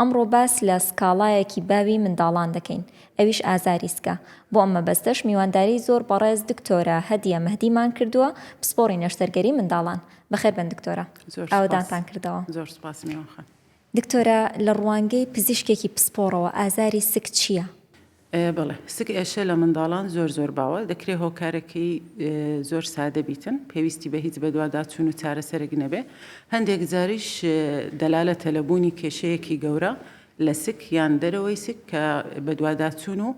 ئەمڕۆ باس لە سکاڵایەکی باوی منداڵان دەکەین ئەویش ئازاری سکە، بۆ ئەم مەبەستەش میوانداریی زۆر بەڕێز دکتۆرە هەدیە مەهدیمان کردووە پسپۆڕی نەشتەرگەری منداڵان. بەخێربێن دکتۆرە ئاوەدانتان کردەوە. زۆر سوپاس میوان خان. دکتۆرە لە ڕوانگەی پزیشکێکی پسپۆڕەوە ئازاری سک چییە؟ بەڵێ سک ئێشە لە منداڵان زۆر زۆر باوە دەکرێ هۆکارەکەی زۆر سادە بیتن پێویستی بە هیچ بەدواداچوون و چارەسەرێک نەبێ هەندێک جاریش دەلالەتە لە بوونی کێشەیەکی گەورە لە سک یان دەرەوەی سک کە بەدواداچوون و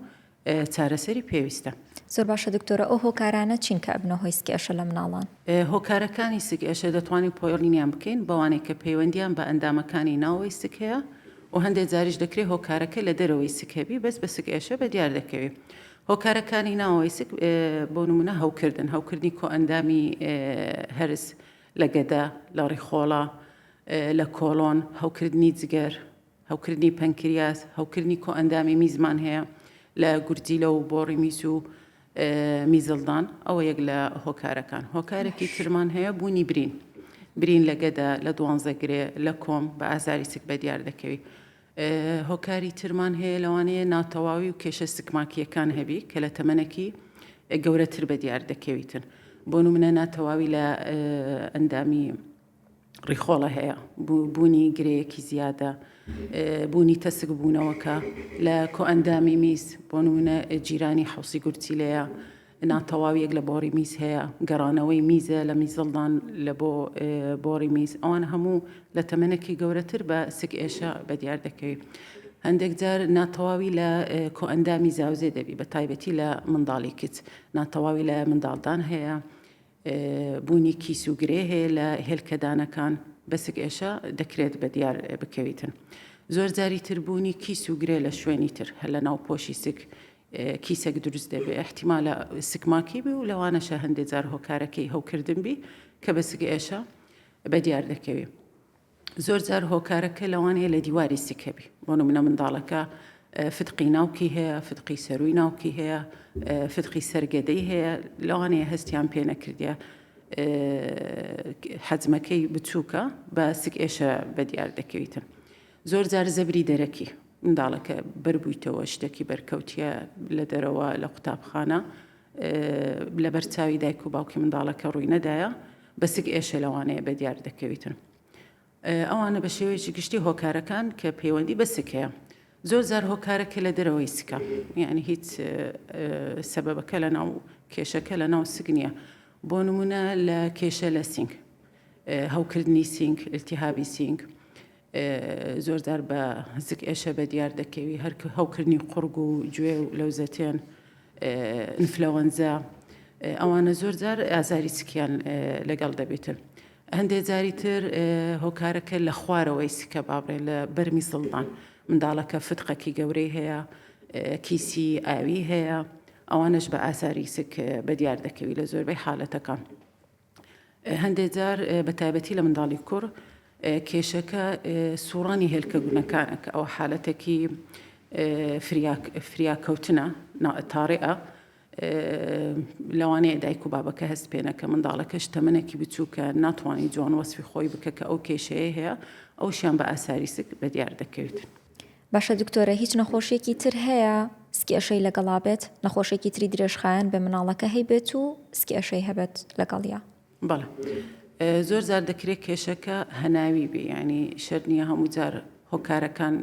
چارەسەری پێویستە. زۆر باشە دکتۆرە ئەو هۆکارانە چین کە ئەبنە هۆی سک ئێشە لە مناڵان؟ هۆکارەکانی سک ئێشە دەتوانین پۆیڵینیان بکەین بەوانەی کە پەیوەندیان بە ئەندامەکانی ناوەوەی سک هەیە و هەندێ جاریش دەکرێ هۆکارەکە لە دەرەوەی سک هەبی بەس بە سک ئێشە بە دیار دەکەوی هۆکارەکانی ناوەوەی سک بۆ نمونە هەوکردن هەوکردنی کۆئەندامی هەرس لە گەدە لە ڕیخۆڵە لە کۆڵۆن هەوکردنی جگەر هەوکردنی پەنکریاس هەوکردنی کۆئەندامی میزمان هەیە لە گورجیلە و بۆڕی میس و میزڵدان ئەوە یەک لە هۆکارەکان هۆکارێکی ترمان هەیە بوونی برین برین لە گەدا لە دوانزە گرێ لە کۆم بە ئازاری سک بە دیار دەکەوی هۆکاری ترمان هەیە لەوانەیە ناتەواوی و کێشە سکماکیەکان هەبی کە لە تەمەنەکی گەورەتر بە دیار دەکەویتن بۆ منە ناتەواوی لە ئەندامی ڕیخۆڵە هەیە بۆ بوونی گرێیەکی زیادە، بوونی تەسک بوونەوەکە لە کۆئەندامی میز بۆ نمونە جیرانی حوسی گورچیلەیە ناتەواویەک لە بۆڕی میز هەیە گەڕانەوەی میزە لە میزڵدان لە بۆ بۆڕی میز ئەوان هەموو لە تەمەنێکی گەورەتر بە سک ئێشە بە دیار دەکەوێت هەندێک جار ناتەواوی لە کۆئەندامی زاوزێ دەبی بە تایبەتی لە منداڵی کچ ناتەواوی لە منداڵدان هەیە بوونی کیس و گرێ هەیە لە هێلکەدانەکان، بەسک ئێشە دەکرێت بەدیار بکەویتن. زۆرجاری تر بوونی کیس و گرێ لە شوێنی تر هەر لە ناو پۆشی سک کیسەک دروست دەبێ ئیحتیمالە سک ماکی بی و لەوانەشە هەندێ جار هۆکارەکەی هەوکردن بی کە بەسک ئێشە بەدیار دەکەوی. زۆر جار هۆکارەکە لەوانەیە لە دیواری سکە بی بۆ نمونە منداڵەکە فتقی ناوکی هەیە فتقی سەروی ناوکی هەیە فتقی سەرگەدەی هەیە لەوانەیە هەستیان پێ نەکردە حەجمەکەی بچووکە بە سک ئێشە بە دیار دەکەویتن زۆر جار زەبری دەرەکی منداڵەکە بربوویتەوە شتێکی بەرکەوتە لە دەرەوە لە قوتابخانە لەبەر چاوی دایک و باوکی منداڵەکە ڕووی نەدایە بە سک ئێشێ لەوانەیە بە دیار دەکەویتن. ئەوانە بە شێوەیەکی گشتی هۆکارەکان کە پەیوەندی بە سکەیە. زۆر زار هۆکارەکە لە دەرەوەی سکە یعنی هیچ سەبەبەکە لە ناو کێشەکە لە ناو سک نییە بۆ نمونە لە کێشە لە سینگ هەوکردنی سینگ التیهابی سینگ زۆرجار بە زگ ئێشە بەدیار دەکەوی هەر هەوکردنی قوڕگ و گوێ و لەوزەتێن ئینفلەوەنزا ئەوانە زۆرجار ئازاری سکیان لەگەڵ دەبێتن. هەندێک جاری تر هۆکارەکە لە خوارەوەی سکە بابڕێ لە بەرمی سڵدان منداڵەکە فتقەکی گەورەی هەیە کیسی ئاوی هەیە ئەوانش بە ئازاری سک بە دیار دەکەوی لە زۆربەی حالەتەکان. هەندێک جار بە تایبەتی لە منداڵی کوڕ کێشەکە سوڕانی هێلکە گونەکانە کە ئەوە حالەتێکی فریاکەوتنە تاڕێە لەوانەیە دایک و بابەکە هەست پێێنە کە منداڵەکەش تەمنێکی بچووکە ناتوانانی جوان وەسفی خۆی بکە کە ئەو کێشەیە هەیە ئەوشیان بە ئاساریسک بە دیار دەکەوێت. باشە دکتۆرە هیچ نەخۆشیەکی تر هەیە سکئشەی لەگەڵا بێت نەخۆشێکی تری درێژخایەن بێ مناڵەکە هەی بێت و سکئشەی هەبێت لەگەڵیا. بەڵێ زۆر جار دەکرێت کێشەکە هەناوی بێ ینی شەر نییە هەموو جار هۆکارەکان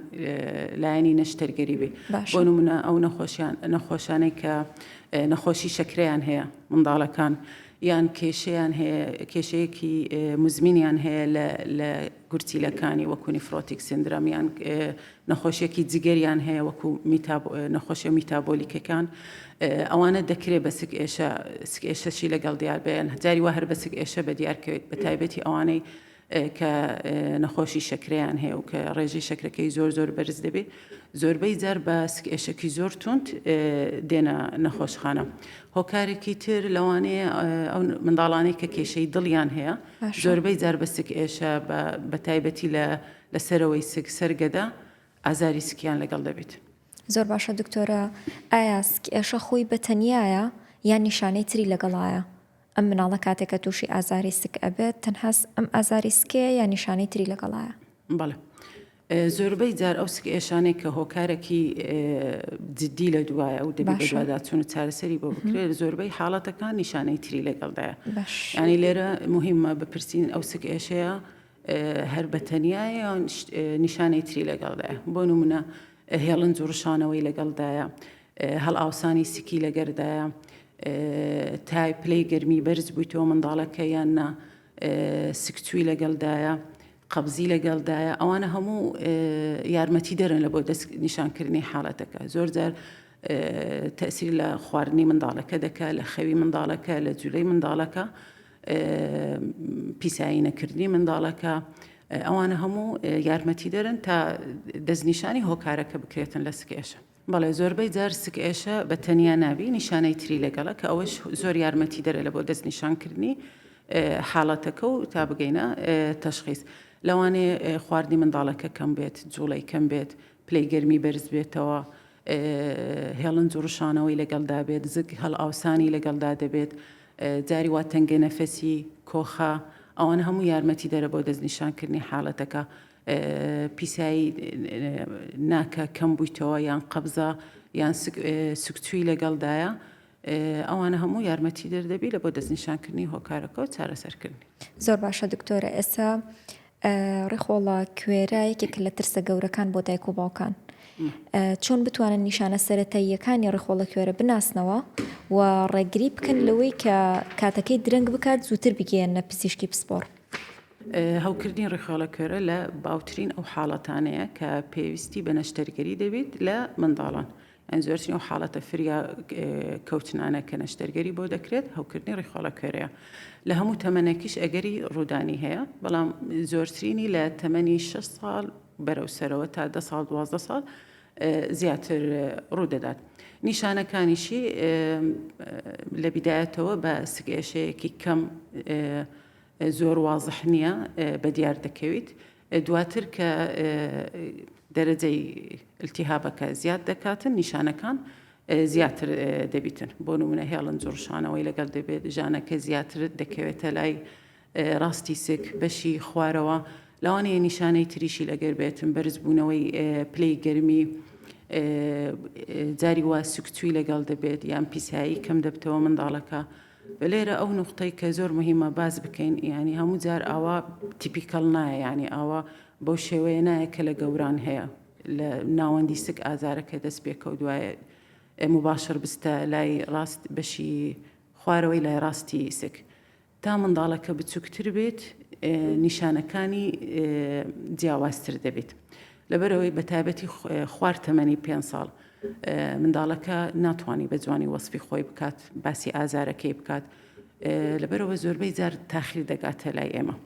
لایەنی نەشتەرگەری بێ بۆ نمونە ئەو نەخۆشیان نەخۆشانەی کە نەخۆشی شەکریان هەیە منداڵەکان یان کێشیان هەیە کێشەیەکی مزمینیان هەیە لە گورچیلەکانی وەکو نیفرۆتیک سیندرەم یان نەخۆشیەکی جگەریان هەیە وەکو نەخۆشیە میتابۆلیکەکان ئەوانە دەکرێت بە سک ئێشە سک ئێشەشی لەگەڵ دیار بێن هەجاری وا هەر بە سک ئێشە بە دیارکەوێت بە تایبەتی ئەوانەی کە نەخۆشی شەکریان هەیە و کە ڕێژەی شەکرەکەی زۆر زۆر بەرز دەبێت زۆربەی جار بە سکێشەکی زۆر تونند دێنە نەخۆشخانە هۆکارێکی تر لەوانەیە ئەو منداڵانەی کە کێشەی دڵیان هەیە زۆربەی جار بە سک ئێشە بە بە تایبەتی لە لە سەرەوەی سک سەر گەدە ئازاری سکیان لەگەڵ دەبیت. زۆر باشە دکتۆرە ئایا سک ئێشە خۆی بە تەنیایە یان نیشانەی تری لەگەڵایە؟ ئەم مناڵە کاتێ کە توشی ئازاری سک ئەبێت تەنها ئەم ئازاری سکەیە یا نیشانەی تری لەگەڵایە؟ بەڵێ زۆربەی جار ئەو سکئێشانەی کە هۆکارەکی جددی لە دوایە و دەبێت بەدواداچون و چارەسەری بۆ بکرێت زۆربەی حاڵەتەکان نیشانەی تری لەگەڵدایە ینی لێرە مهمە بپرسین ئەو سکئێشەیە هەر بەتەنایە نیشانەی تری لەگەڵدایە بۆ نمونە هێڵن جوڕشانەوەی لەگەڵدایە هەڵ ئاوسانی سکی لەگەردایە تای پلەی گەرمی بەرز بوویتەوە منداڵەکە یان نا سکچووی لەگەڵدایە قەبزی لەگەڵدایە، ئەوانە هەموو یارمەتیدەرن لە بۆ دەست نیشانکردنی حاڵەتەکە زۆر جار تەسیر لە خواردنی منداڵەکە دەکە لە خەوی منداڵەکە لە جولەی منداڵەکە پیسایی نەکردنی منداڵەکە ئەوانە هەموو یارمەتی دەرن تا دەستنیشانی هۆکارەکە بکرێتن لە سکێشە بەڵێ زۆربەی جار سک ئێشە بە تەنیا نابی نیشانەی تری لەگەڵە کە ئەوەش زۆر یارمەتی دەرە لە بۆ دەست نیشانکردنی حاڵەتەکە و تا بگەینە تەشخیس لەوانێ خواردی منداڵەکە کەم بێت جوڵەی کەم بێت پلەی گەرمی بەرز بێتەوە هێڵن جوڕشانەوەی لەگەڵدا بێت زگ هەڵ ئاوسانی لەگەڵدا دەبێت جاری وا تەنگە نەفەسی کۆخە ئەوان هەموو یارمەتی دەرە بۆ دەستنیشانکردنی حاڵەتەکە پیسایی ناکە کەم بویتەوە یان قەبزە یان سکچوی لەگەڵدایە ئەوانە هەموو یارمەتی دەر دەبی لە بۆ دەستنیشانکردنی هۆکارەکە و چارەسەرکردنی زۆر باشە دکتۆرە ئێسا ڕیخۆڵە کوێرە یەکێک لە ترسە گەورەکان بۆ دایک و باوکان چۆن بتوانن نیشانە سەتەییەکانی ڕیخۆڵە کوێرە بناسنەوە و ڕێگری بکەن لەوەی کە کاتەکەی درەنگ بکات زووتر بگەیەنە پزیشکی پسپۆڕ هەوکردنی ڕیخۆڵە کۆرە لە باوترین ئەو حاڵەتانەیە کە پێویستی بە نەشتەرگەری دەبیت لە منداڵان. ئەن زۆرترین ئەو حاڵەتە فریا کەوتنانە کە نەشتەرگەری بۆ دەکرێت هەوکردنی ڕیخۆڵە کۆرەیە. لە هەموو تەمەنەکیش ئەگەری ڕوودانی هەیە، بەڵام زۆرترینی لە تەمەنی شەش ساڵ بەرەو سەرەوە تا دە ساڵ دوازدە ساڵ زیاتر ڕوودەدات. نیشانەکانیشی لە بیدایەتەوە بە سکئێشەیەکی کەم زۆر وازح نییە بەدیار دەکەویت، دواتر کە دەرەجەی التیهابەکە زیاد دەکاتن نیشانەکان زیاتر دەبیتن، بۆ نموونە هێڵن جڕشانەوەی لەگەڵ دەبێت، ژانەکە زیاتر دەکەوێتە لای ڕاستی سک، بەشی خوارەوە، لەوانەیە نیشانەی تریشی لەگەر بێت، بەرزبوونەوەی پلەی گەرمی، جاری وا سکچووی لەگەڵ دەبێت یان پیسایی کەم دەبتەوە منداڵەکە. بە لێرە ئەو نوختەی کە زۆر مهمە باس بکەین یانی هەموو جار ئاوا تیپیکەڵ نایە یانی ئاوا بەو شێوەیە نایە کە لە گەوران هەیە لە ناوەندی سک ئازارەکە دەست پێکەوت وایە مباشر بستە لای ڕاست بەشی خوارەوەی لای ڕاستی سک تا منداڵەکە بچووکتر بێت نیشانەکانی جیاوازتر دەبێت لەبەرەوەی بە تایبەتی خوار تەمەنی پێ ساڵ منداڵەکە ناتوانانی بە جوانی وەسفی خۆی بکات باسی ئازارەکەی بکات لەبەرەوە زۆربەی جار تاخیر دەگاتە لای ئێمە.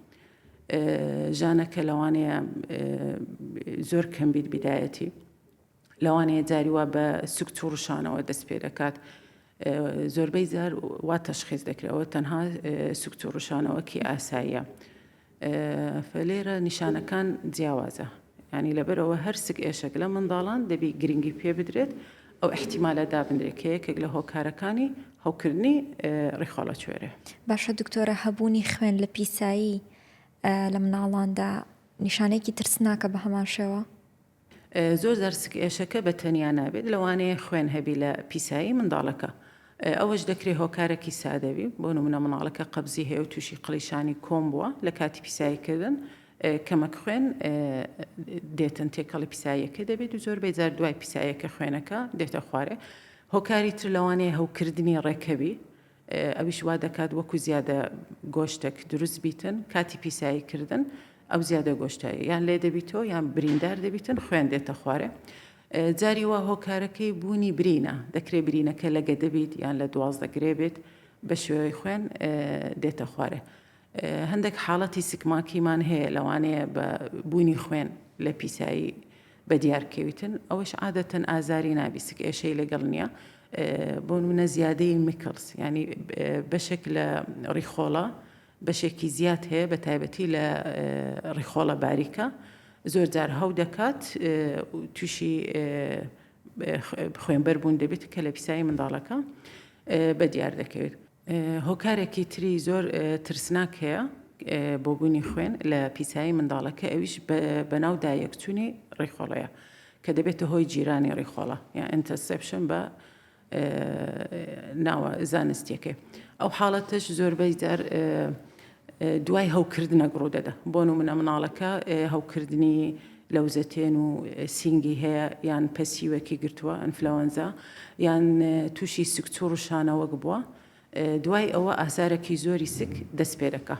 ژانەکە لەوانەیە زۆر کەم بیت بدایەتی لەوانەیە جاری وا بە سکچ و ڕشانەوە دەست پێ دەکات زۆربەی جار وا تەشخیز دەکرەوە تەنها سکچ و ڕشانەوەکی ئاساییە فلێرە نیشانەکان جیاوازە ینی لەبەرەوە هەر سک ئێشک لە منداڵان دەبی گرنگی پێ بدرێت ئەو احتیمالە دابنرێت کە یەکێک لە هۆکارەکانی هەوکردنی ڕیخۆڵە کوێرە باشە دکتۆرە هەبوونی خوێن لە پیسایی لە مناڵاندا نیشانێکی ترسناکە بە هەمان شێوە زۆر جار سکئێشەکە بە تەنیا نابێت، لەوانەیە خوێن هەبی لە پیسایی منداڵەکە، ئەوەش دەکرێت هۆکارەکی سادە بی، بۆ نمونە منداڵەکە قەبزی هەیە و توشی قڵیشانی کۆم بوە لە کاتی پیسایی کردن کەمەک خوێن دێتن تێکەڵی پیساییەکە دەبێت و زۆربەی جار دوای پیساییەکە خوێنەکە دێتە خوارێ، هۆکاری تر لەوانەیە هەوکردنی ڕێکەبی، ئەویش وا دەکات وەکو زیادە گۆشتێک دروست بیتن کاتی پیسایی کردن ئەو زیادە گۆشتایی یان لێ دەبیتەوە یان بریندار دەبیتن خوێن دێتە خوارێ جاری وا هۆکارەکەی بوونی برینە دەکرێت برینەکە لە گەدەبیت یان لە دوازدە گرێ بێت بە شێوەی خوێن دێتە خوارێ هەندێک حاڵەتی سکماکیمان هەیە لەوانەیە بە بوونی خوێن لە پیسایی بەدیار کەویتن ئەوەش عادەتەن ئازاری نابیسک ئێشەی لەگەڵ نیە بۆ منە زیادەی میکڵس ینی بەشێک لە ڕیخۆڵە بەشێکی زیاد هەیە بە تایبەتی لە ڕیخۆڵە باریکە زۆر جار هەو دەکات تووشی خوێنبەر بوون دەبێت کە لە پیسایی منداڵەکە بە دیار دەکەوێت هۆکارێکی تری زۆر ترسناک هەیە بۆ بوونی خوێن لە پیسایی منداڵەکە ئەویش بەناو دایەکچوونی ڕیخۆڵەیە کە دەبێتە هۆی جیرانی ڕیخۆڵە یا ئەتەسپشن بە ناوە زانستیەکەی ئەو حاڵەتش زۆربەی جار دوای هەوکردنەک ڕوودەدە بۆ نمونە مناڵەکە هەوکردنی لەوزەتێن و سینگی هەیە یان پەسیوەکی گرتووە ئەنفلەوەنزا یان تووشی سکچوڕ و شانەوەک بووە دوای ئەوە ئازارەکی زۆری سک دەست پێ دەکە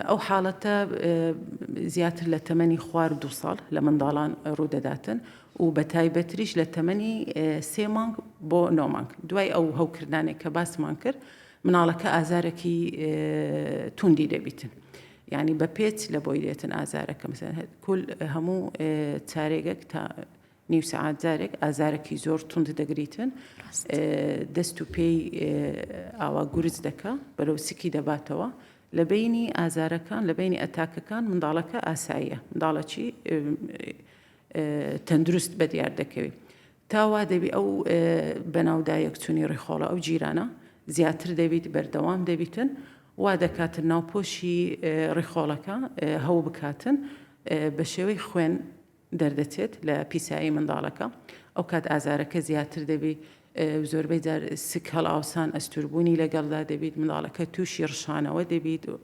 ئەو حاڵەتە زیاتر لە تەمەنی خوار دو ساڵ لە منداڵان ڕوودەداتن و بە تایبەتریش لە تەمەنی سێ مانگ بۆ نۆمانگ دوای ئەو هەوکردانێک کە باسمان کرد مناڵەکە ئازارەکی توندی دەبیتن یعنی بە پێچ لە بۆی دێتن ئازارەکە مثلەن کل هەموو چارێگەک تا نیو سعات جارێک ئازارەکی زۆر توند دەگریتن دەست و پێی ئاوا گورج دەکە بەرەو سکی دەباتەوە لە بینی ئازارەکان لە بینی ئەتاکەکان منداڵەکە ئاساییە منداڵەکی تەندروست بە دیار دەکەوێت تا وا دەبی ئەو بەناودایەکچونی ڕیخۆڵە ئەو جیرانە زیاتر دەبیت بەردەوام دەبیتن وا دەکاتن ناوپۆشی ڕیخۆڵەکە هەو بکاتن بە شێوەی خوێن دەردەچێت لە پیسایی منداڵەکە ئەو کات ئازارەکە زیاتر دەبی زۆربەی جار سک هەڵاوسان ئەستوربوونی لەگەڵدا دەبیت منداڵەکە تووشی ڕشانەوە دەبیت و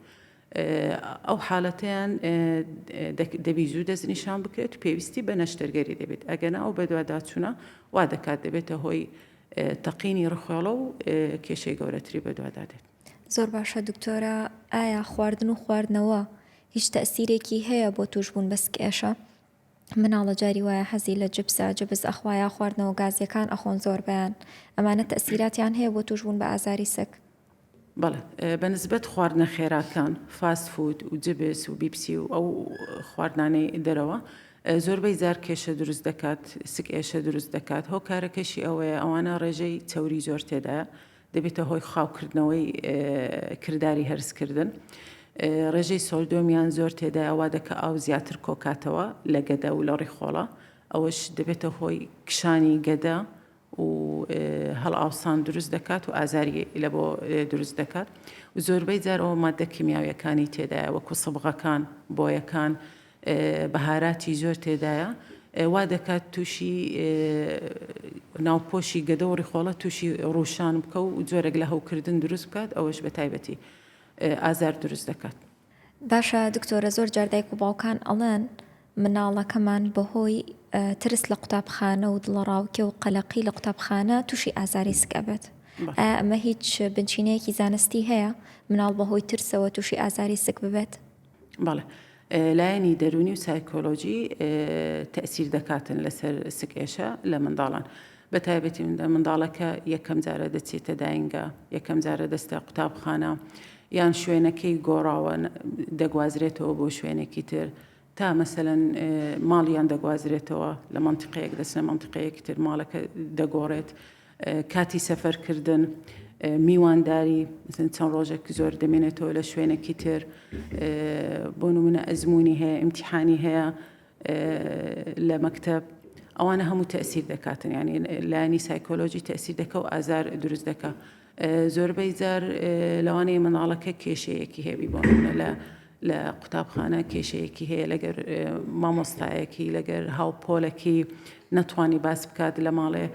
ئەو حالەتەیان دەبی زوو دەستنیشان بکرێت و پێویستی بە نەشتەرگەری دەبێت، ئەگەنا ئەو بەدواداچوونە وا دەکات دەبێتە هۆی تەقینی ڕخێڵە و کێشەی گەورەتری بەدوادا دێت. زۆر باشە دکتۆرە ئایا خواردن و خواردنەوە هیچ تەسیرێکی هەیە بۆ توشبوون بە سکئێشە؟ مناڵە جاری وایە حەزی لە جبسە جبس ئەخوا یا خواردنەوە گازیەکان ئەخۆن زۆربەیان ئەمانە تەئسیراتیان هەیە بۆ توشبون بە ئازاری سک. بەڵێ بە نسبەت خواردنە خێراکان فاست فود و جبس و بیپسی و ئەو خواردنانەی دەرەوە زۆربەی جار کێشە دروست دەکات سک ئێشە دروست دەکات هۆکارەکەشی ئەوەیە ئەوانە ڕێژەی چەوری زۆر تێدایە دەبێتە هۆی خاوکردنەوەی کرداری هەرسکردن. ڕێژەی سۆلدۆمیان زۆر تێدایە وا دەکە ئاو زیاتر کۆکاتەوە لە گەدە و لە ڕیخۆڵە ئەوەش دەبێتە هۆی کشانی گەدە و هەڵئاوسان دروست دەکات و ئازاری لە بۆ دروست دەکات و زۆربەی جارەوە مادە کیمیاویەکانی تێدایە وەکو سەبغەکان بۆیەکان و بەهاراتی زۆر تێدایە وا دەکات تووشی ناوپۆشی گەدە و ڕیخۆڵە تووشی ڕوشان بکە و جۆرێک لە هەوکردن دروست بکات ئەوەش بە تایبەتی ئازار دروست دەکات. باشە دکتۆرە زۆر جار دایک و باوکان ئەڵێن مناڵەکەمان بەهۆی ترس لە قوتابخانە و دڵەڕاوکێ و قەلەقی لە قوتابخانە تووشی ئازاری سک ئەبێت ئەمە هیچ بنچینەیەکی زانستی هەیە مناڵ بەهۆی ترسەوە تووشی ئازاری سک ببێت بەڵێ لایەنی دەرونی و سایکۆلۆژی تەسیر دەکاتن لەسەر سکێشە لە منداڵان بە تایبەتی مندە منداڵەکە یەکەم جارە دەچێتە داینگە یەکەم جارە دەستە قوتابخانە یان شوێنەکەی گۆڕاوە دەگوازرێتەوە بۆ شوێنێکی تر تا مەسەەن ماڵیان دەگوازرێتەوە لە منتیقەیەک دەچنە منتیقەیەکی تر ماڵەکە دەگۆڕێت کاتی سەفەرکردن، میوانداری، مثلا چەند ڕۆژێک زۆر دەمێنێتەوە لە شوێنێکی تر، بۆ نمونە ئەزموونی هەیە، ئیمتیحانی هەیە لە مەکتەب، ئەوانە هەموو تەئسیر دەکاتن یانی لانی سایکۆلۆژی تەئسیر دەکە و ئازار دروست دەکە. زۆربەی جار لەوانەیە منداڵەکە کێشەیەکی هەبی بۆ نمونە لە لە قوتابخانە کێشەیەکی هەیە لەگەر مامۆستایەکی لەگەر هاوپۆلەکی نەتوانی باس بکات لە ماڵێ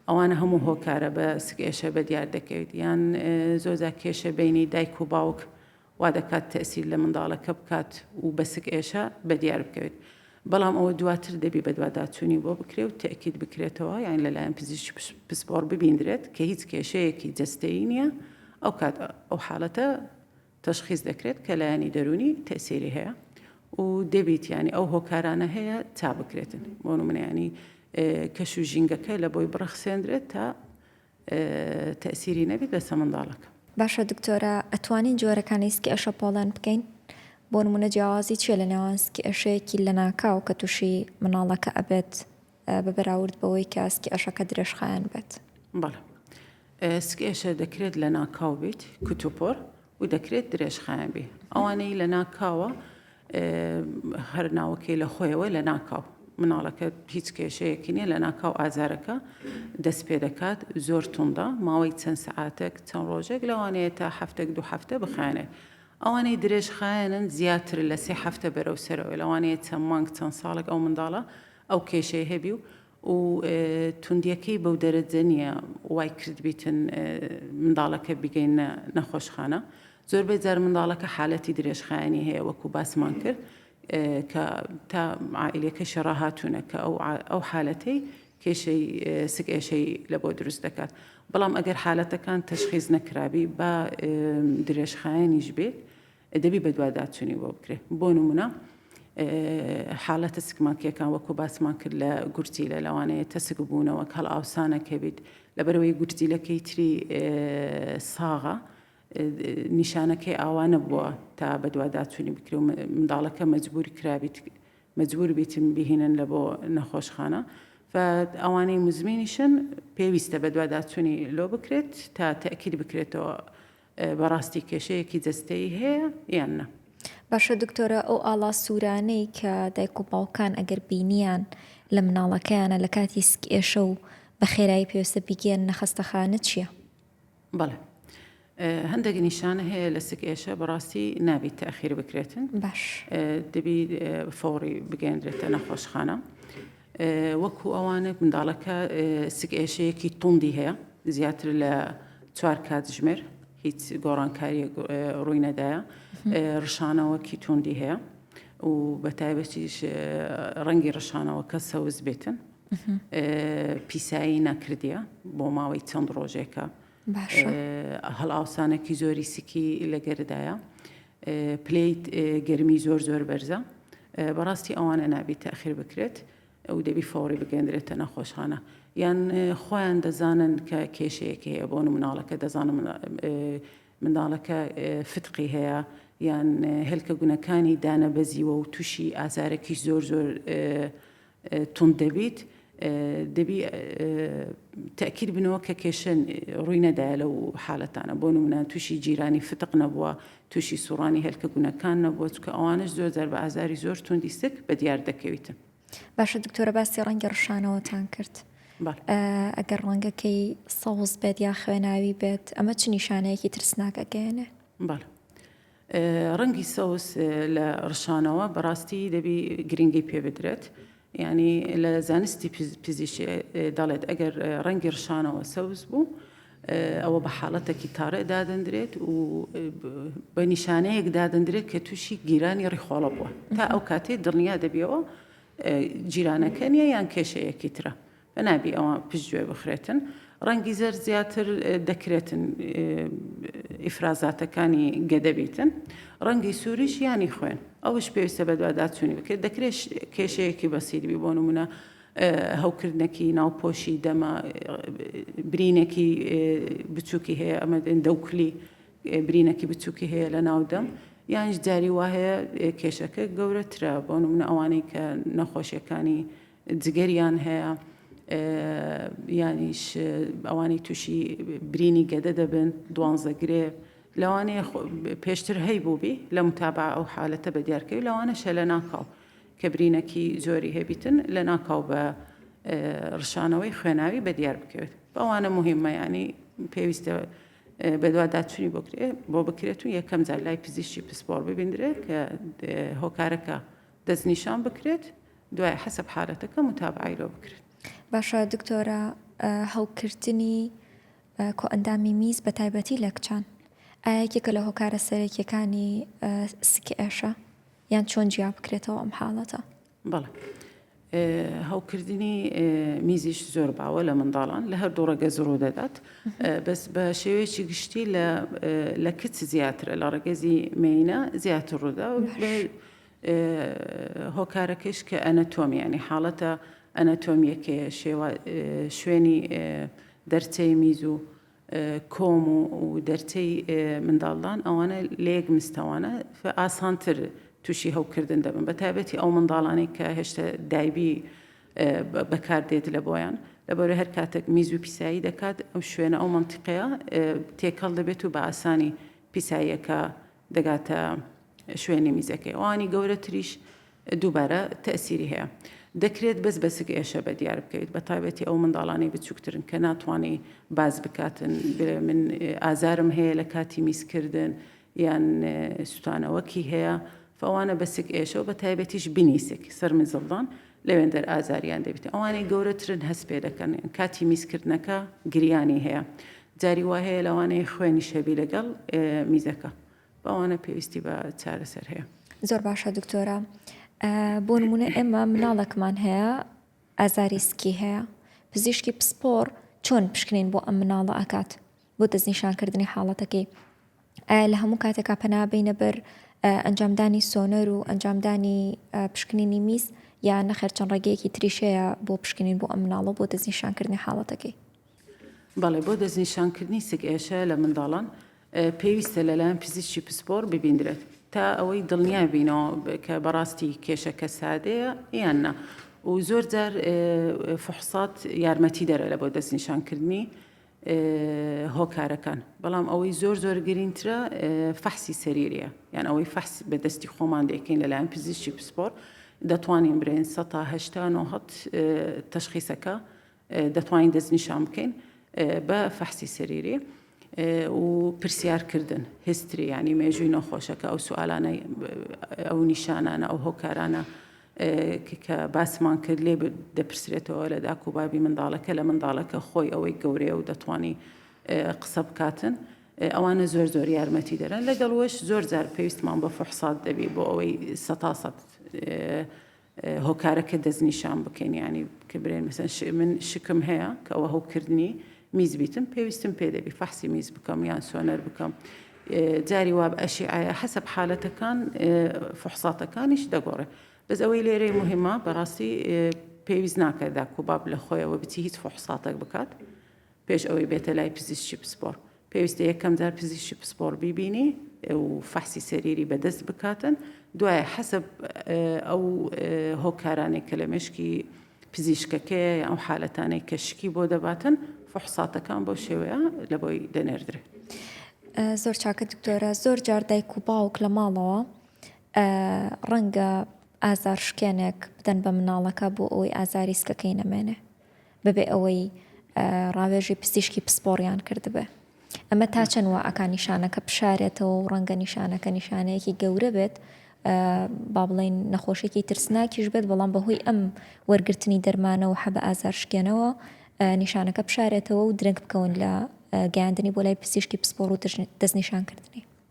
ئەوانە هەموو هۆکارە بە سکێشە بە دیار دەکەوێت یان زۆزا کێشە بینی دایک و باوک وا دەکات تەسیر لە منداڵەکە بکات و بە سکێشە بە دیار بکەوێت بەڵام ئەوە دواتر دەبی بەدواداچوونی بۆ بکرێ و تەکیت بکرێتەوە یان لەلایەن پزیش پسپۆڕ ببیندرێت کە هیچ کێشەیەکی جستەی نییە ئەو کات ئەو حاڵەتە تەشخیس دەکرێت کە لایەنی دەروونی تەئسیری هەیە و دەبیت یانی ئەو هۆکارانە هەیە تا بکرێتن بۆ نمونیانی کەش و ژینگەکە لە بۆی بڕەخسێندرێت تا تەسیری نەبیت لەسە منداڵەکە باشە دکتۆرە ئەتوانین جۆرەکانی سکی ئەشە پۆڵێن بکەین بۆ نمونە جیاوازی چیە لە نێوان سکی ئەشەیەکی لە ناکاو کە تووشی مناڵەکە ئەبێت بە بەراورد بەوەی کە سکی ئەشەکە درێژخایەن بێت. بەڵێ. سکی ئەشە دەکرێت لەناکاو بیت، کوتوپۆر، و دەکرێت درێژخایەن بی. ئەوانەی لەناکاوە هەر ناوەکەی لە خۆیەوە لەناکاو. مناڵەکە هیچ کێشەیەکی نییە لەناکاو ئازارەکە دەست پێ دەکات، زۆر توندە، ماوەی چەند سەعاتێک، چەند ڕۆژێک لەوانەیە تا هەفتەک دوو هەفتە بخایەنێت. ئەوانەی درێژخایەنن زیاتر لە سێ هەفتە بەرەو سەرەوەیە، لەوانەیە چەند مانگ، چەند ساڵێک ئەو منداڵە ئەو کێشەی هەبی و و توندیەکەی بەو دەرەجە نیە وای کردبیتن منداڵەکە بیگەینە نەخۆشخانە زۆربەی جار منداڵەکە حالەتی درێژخایەنی هەیە وەکو باسمان کرد کە تا عائلەکە شەڕە هاتوونە کە ئەو ئەو حالەتەی کێشەی سک ئێشەی لە بۆ دروست دەکات بەڵام ئەگەر حالەتەکان تەشخیز نەکرابی بە درێژخایەنیش بێت دەبی بەدواداچونی بۆ بکرێ بۆ نمونە حالەتە سکماکیەکان وەکو باسمان کرد لە گورچی لە لەوانەیە تەسک بوونەوە کەڵ ئاوسانەکە بیت لەبەرەوەی گورجیلەکەی تری ساغە نیشانەکەی ئاوانە بووە تا بەدواداچوونی بکرێ و منداڵەکە مەجبور کرابیت مەجبور بیتم بهینن لە بۆ نەخۆشخانە ئەوانەی مزمینیشن پێویستە بەدواداچوونی لۆ بکرێت تا تەکیل بکرێتەوە بەڕاستی کێشەیەکی جەستەیی هەیە یان نا. باشە دکتۆرە ئەو ئاڵا سوورانەی کە دایک و باوکان ئەگەر بینیان لە مناڵەکەیانە لە کاتی سک ئێشە و بە خێرایی پێویستە بیگەن نەخەستەخانە چییە؟ بەڵێ هەندێک نیشانە هەیە لە سک ئێشە بەڕاستی نابیت تاخیر بکرێتن باش دەبی فۆڕی بگەندرێتە نەخۆشخانە. وەکو ئەوانە منداڵەکە سک ئێشەیەکی توندی هەیە زیاتر لە چوار کاتژمێر هیچ گۆڕانکاری ڕووی نەدایە ڕشانەوەکی توندی هەیە و بە تایبەتیش ڕەنگی ڕشانەوەکە سەوز بێتن پیسایی نەکردە بۆ ماوەی چەند ڕۆژێکە هەڵئاوسانەکی زۆری سکی لە گەردایە پلیت گەرمی زۆر زۆر بەرزە بەڕاستی ئەوانە نابی تاخیر بکرێت ئەو دەبی فۆڕی بگەندرێتە نەخۆشخانە یان خۆیان دەزانن کە کێشەیەک هەیە بۆ مناڵەکە دەزانم منداڵەکە فتقی هەیە یان هێلکە گونەکانی دانەبەزیوە و تووشی ئازارێکی زۆر زۆر توند دەبیت دەبی تەئکید بنەوە کە کێشە ڕووی نەدایە لەو حالەتانە بۆ نمونە تووشی جیرانی فتق نەبووە تووشی سوڕانی هێلکە گونەکان نەبووە چکە ئەوانش زۆر جار بە ئازاری زۆر توندی سک بە دیار دەکەویتن باشە دکتۆرە باسی ڕەنگی ڕشانەوەتان کرد ئەگەر ڕەنگەکەی سەوز بێت یا خوێناوی بێت ئەمە چ نیشانەیەکی ترسناکەگەێنێ بەڵ ڕەنگی سەوز لە ڕشانەوە بەڕاستی دەبی گرنگی پێ بدرێت یعنی لە زانستی پزیش دەڵێت ئەگەر ڕەنگی ڕشانەوە سەوز بوو ئەوە بە حاڵەتێکی تاڕێ دادەندرێت و بە نیشانەیەک دادەندرێت کە تووشی گیرانی ڕیخۆڵە بووە تا ئەو کاتێ دڵنیا دەبیەوە جیرانەکە نیە یان کێشەیەکی ترە بەناوی ئەوە پشتگوێ بخرێتن. ڕەنگی زەرد زیاتر دەکرێتن ئیفرازاتەکانی گەدە بیتن. ڕەنگی سووریش یانی خوێن. ئەوش پێویستە بەدواداچوونی بکرێت. دەکرێت کێشەیەکی بەسیری بی بۆ نمونە هەوکردنەکی ناوپۆشی دەمە برینێکی بچووکی هەیە ئەمە دێن دەوکلی برینەکی بچووکی هەیە لە ناودەم یانش جاری وهەیە کێشەکە گەورەترە بۆ نمونە ئەوانەی کە نەخۆشیەکانی جگەریان هەیە یانیش ئەوانی تووشی برینی گەدە دەبن دوانزە گرێ لەوانەیە پێشتر هەی بووبی لە متابا ئەو حالەتە بە دیارکەوی لەوانە شە لە ناکاو کە برینەکی زۆری هەبیتن لە ناکاو بە ڕشانەوەی خوێناوی بە دیار بکەوێت بەوانە مهمە ینی پێویستە بەدوا داچووی بکرێ بۆ بکرێت و یەکەم جار لای پزیشتی پسپۆر ببیندرێت کە هۆکارەکە دەستنیشان بکرێت دوای حەسەب حالەتەکە متابعەی لۆ بکرێت. باشە دکتۆرە هەوکردنی کۆئەندامی میز بەتایبەتی لە کچان ئایا یەکێکە لە هۆکارە سەرەکیەکانی سکی ئێشە یان چۆن جیا بکرێتەوە ئەم حاڵەتە؟ بەڵێ هەوکردنی میزیش زۆر باوە لە منداڵان لە هەردوو ڕێگە زڕوو دەدات بەس بە شێوەیەکی گشتی لە کچ زیاترە لە ڕێگەزی مینە زیاتر ڕوودا هۆکارەکەیش کە ئەنەتۆمی یانی حاڵەتە ئەنەتۆمییەکەیە، شێوا شوێنی دەرچەی میز و کۆم و دەرچەی منداڵدان ئەوانە لە یەک مستەوانە ئاسانتر تووشی هەوکردن دەبن بە تایبەتی ئەو منداڵانەی کە هێشتا دایبی بەکاردێت لە بۆیان لەبەرە هەر کاتێک میز و پیسایی دەکات ئەو شوێنە ئەو منتیقەیە تێکەڵ دەبێت و بە ئاسانی پیساییەکە دەگاتە شوێنی میزەکەی ئەوانی گەورەتریش دووبارە تەسیری هەیە دەکرێت بەس بەسک ئێشە بە دیار بکەیت بە تایبەتی ئەو منداڵانی بچووکترن کە ناتوانانی باز بکاتن من ئازارم هەیە لە کاتی میزکردن یان سووتانەوەکی هەیە فەوانە بەسک ئێشەوە بە تایبەتیش بنیسک سەرمزڵدان لەوێندەر ئازاریان دەبیت ئەوانەی گەورەترن هەست پێ دەکەن کاتی میزکردنەکە گریانی هەیە جاری وا هەیە لەوانەیە خوێنی شەبی لەگەڵ میزەکە بەوانە پێویستی بە چارەسەر هەیە زۆر باشە دکتۆرە بۆ نمونە ئێمە مناڵەکمان هەیە ئازاری سکی هەیە پزیشکی پسپۆڕ چۆن پشکنین بۆ ئەم مناڵە ئاکات بۆ دەستنیشانکردنی حاڵەتەکەی ئایا لە هەموو کاتێکا پەنا بەینە بەر ئەنجامدانی سۆنەر و ئەنجامدانی پشکنینی میز یا نەخێر چەند ڕێگەیەکی تریشەیە بۆ پشکنین بۆ ئەم مناڵە بۆ دەستنیشانکردنی حاڵەتەکەی. بەڵێ بۆ دەستنیشانکردنی سک ئێشە لە منداڵان پێویستە لەلایەن پزیشکی پسپۆڕ ببیندرێت تا ئەوەی دڵنیا بینەوە کە بەڕاستی کێشەکە سادەیە یان نا و زۆر جار فحصات یارمەتی دەرە لە بۆ دەستنیشانکردنی هۆکارەکان بەڵام ئەوەی زۆر زۆر گرینترە فەحسی سەریریە یان ئەوەی فەحس بە دەستی خۆمان دەکەین لەلایەن پزیشتی پسپۆر دەتوانین برێن 1970 تەشخیسەکە دەتوانین دەستنیشان بکەین بە فەحسی سەریری و پرسیارکردن هستری ینی مێژووی نەخۆشەکە ئەو سوالانە ئەو نیشانانە ئەو هۆکارانە کە باسمان کرد لێ دەپرسرێتەوە لە داک و بابی منداڵەکە لە منداڵەکە خۆی ئەوەی گەورەیە و دەتوانی قسە بکاتن ئەوانە زۆر زۆر یارمەتی دەرن لەگەڵ وەش زۆر جار پێویستمان بە فحسات دەبی بۆ ئەوەی سەتا سەد هۆکارەکە دەستنیشان بکەین ینی کە برێن مەسەن من شکم هەیە کە ئەوە هەوکردنی میز بیتم پێویستم پێ دەبی فەحسی میز بکەم یان سۆنەر بکەم جاری واب ئەشیعەیە حەسب حالەتەکان فحساتەکانیش دەگۆڕێ بەس ئەوەی لێرەی مهمە بەڕاستی پێویست ناکە داکوباب لە خۆیەوە بچی هیچ فحساتەک بکات پێش ئەوەی بێتە لای پزیشکی پسپۆر پێویستە یەکەم جار پزیشکی پسپۆر بیبینی و فەحسی سەریری بەدەست بکاتن دوایە حەسب ئەو هۆکارانێک کە لە مشکی پزیشکەکەیە یان ئەو حالەتانەی کە شکی بۆ دەباتن فحساتەکان بەو شێوەیە لە بۆی دەنێردرێ. زۆر چاکە دکتۆرە زۆر جار دایک و باوک لە ماڵەوە ڕەنگە ئازار شکێنێک بدەن بە مناڵەکە بۆ ئەوەی ئازاری سکەکەی نەمێنێ بەبێ ئەوەی ڕاوێژی پزیشکی پسپۆڕیان کردبێ ئەمە تا چەند وا ئەکا نیشانەکە بشارێتەوە و ڕەنگە نیشانەکە نیشانەیەکی گەورە بێت با بڵێن نەخۆشێکی ترسناکیش بێت بەڵام بەهۆی ئەم وەرگرتنی دەرمانەوە حەبە ئازار شکێنەوە نیشانەکە بشارێتەوە و درەنگ بکەون لە گەیاندنی بۆ لای پزیشکی پسپۆڕ و دەستنیشانکردنی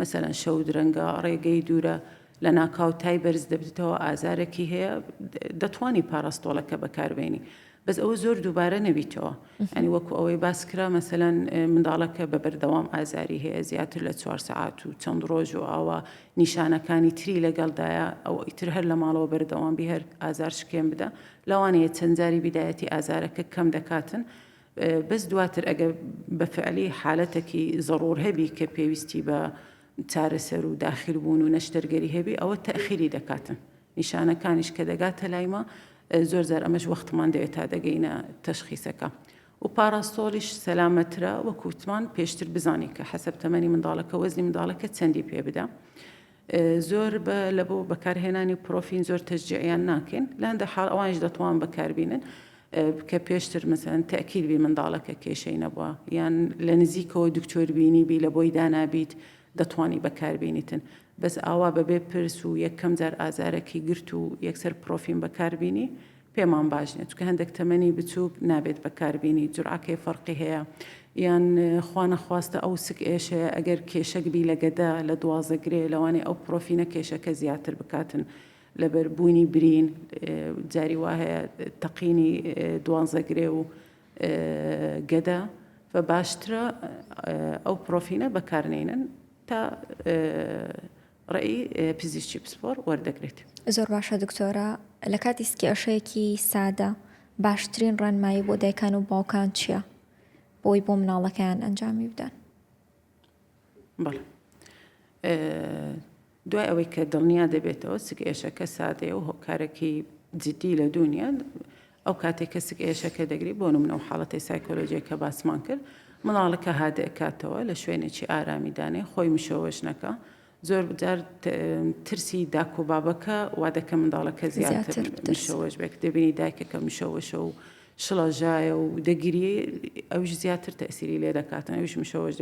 مەسەلەن شەو درەنگە، ڕێگەی دوورە، لەناکاو تای بەرز دەبتەوە، ئازارەکی هەیە، دەتوانی پاراستۆڵەکە بەکاربێنی بەس ئەوە زۆر دووبارە نەبیتەوە، یانی وەکو ئەوەی باسکرا مەسەلەن منداڵەکە بە بەردەوام ئازاری هەیە زیاتر لە چوار سەعات و چەند ڕۆژ و ئاوا نیشانەکانی تری لەگەڵدایە ئەوە ئیتر هەر لە ماڵەوە بەردەوام بی هەر ئازار شکێن بدە لەوانەیە چەند جاری بیدایەتی ئازارەکە کەم دەکاتن بەس دواتر ئەگەر بە فعلی حالەتەکی زەڕوور هەبی کە پێویستی بە چارەسەر و داخل بوون و نەشتەرگەری هەبی ئەوە تەخیری دەکاتن نیشانەکانیش کە دەگاتە لایمە زۆر زار ئەمەش وەختمان دەوێت تا دەگەینە تەشخیسەکە و پاراستۆلیش سەلامەترە وەکووتمان پێشتر بزانانی کە حەسب تەمەنی منداڵەکە وەزنی منداڵەکە چەندی پێ بدە زۆر بە لە بۆ بەکارهێنانی پرۆفین زۆر تەشجیعیان ناکەین لە هەندێک حاڵ ئەوانیش دەتوان بەکاربینن کە پێشتر مەسەن تەکیل بی منداڵەکە کێشەی نەبووە یان لە نزیکەوە دکتۆر بینی بی لە بۆی دانابیت دەتوانی بەکاربینیتن بەس ئاوا بەبێ پرس و یەکەم جار ئازارەکی گرت و یەکسەر پرۆفین بەکاربینی پێمان باش نیە چونکە هەندێک تەمەنی بچوک نابێت بەکار بینی جورعەکەی فەرقی هەیە یان خوا نەخواستە ئەو سک ئێشەیە ئەگەر کێشەک بی لە گەدە لە دوازە گرێ لەوانەیە ئەو پرۆفینە کێشەکە زیاتر بکاتن لەبەر بوونی برین جاری وا هەیە تەقینی دوانزە گرێ و گەدە بە باشترە ئەو پرۆفینە بەکارنێنن تا ڕێی پزیشکی پسپۆڕ وەردەگرێت. زۆر باشە دکتۆرە لە کاتی سکیاشەیەکی سادە باشترین ڕێنمایی بۆ دایکان و باوکان چییە بۆی بۆ مناڵەکەیان ئەنجامی بدەن بەڵێ دوای ئەوەی کە دڵنیا دەبێتەوە سکێشەکە سادەیە و هۆکارەکەی جددی لە دونیا ئەو کاتەی کەسک ئێشەکە دەگری بۆ نمونە ئەو حاڵەتەی سایکۆلۆژیە کە باسمان کرد منداڵەکە هادئکاتەوە لە شوێنێکی ئارامی دانێ خۆی مشەوەش نەکە زۆر بجار ترسی داک و بابەکە وا دەکە منداڵەکە زیاتر مشەوەش بێک دەبینی دایکەکە مشەوەشە و شڵەژایە و دەگیری ئەوش زیاتر تەسیری لێ دەکاتن ئەوش مشەوەش